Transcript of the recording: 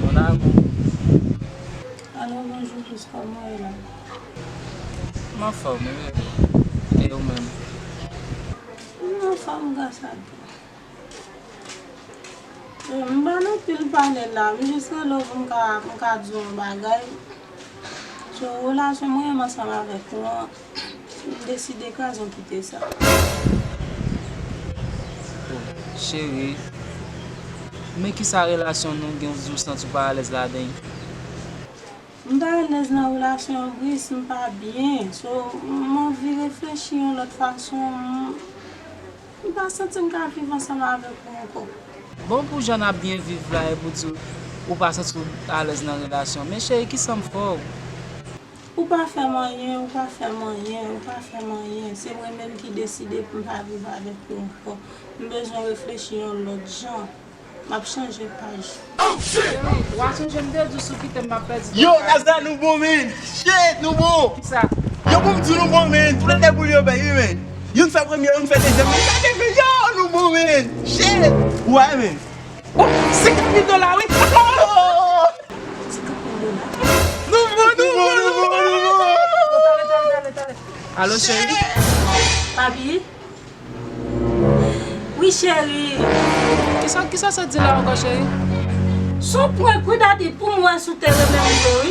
Mon amour. Allo bonjour pous koman ou ye. M anfòm wi e ou menm. M anfòm gras a Dye. M pa nan pil pale la m jis rele w pou m ka di w yon bagay sou relasyon mwen menm ansanm avèk ou an. M deside kazon kite sa. Oh cheri Men kisa relasyon nou gen w di w santi w pa alèz ladan l? M pa alèz nan relasyon an Brice, m pa byen So m anvi reflechi yon lòt fason M pa santi m ka viv ansanm avèk ou ankò. Bon pou jan n ap byen viv la epi w di w pa santi w alèz nan relasyon Men cheri kisa m fè w? Ou pa fèm anyen, ou pa fèm anyen, ou pa fèm anyen, se mwen menm ki deside pou m pa viv avèk ou ankò. M bezwen reflechi yon lòt jan. M ap chanje paj. Cheri, w a sonje m te di w si w kite m m ap pèdi tout bagay. Bon, 50 mil dola wi. Nouvo, nouvo, nouvo, nouvo. Alo cheri. Papi. Wi cheri. Kisa, kisa sa di la ankò cheri? Son prank wi dadi poum wè sou te renmenm vre wi.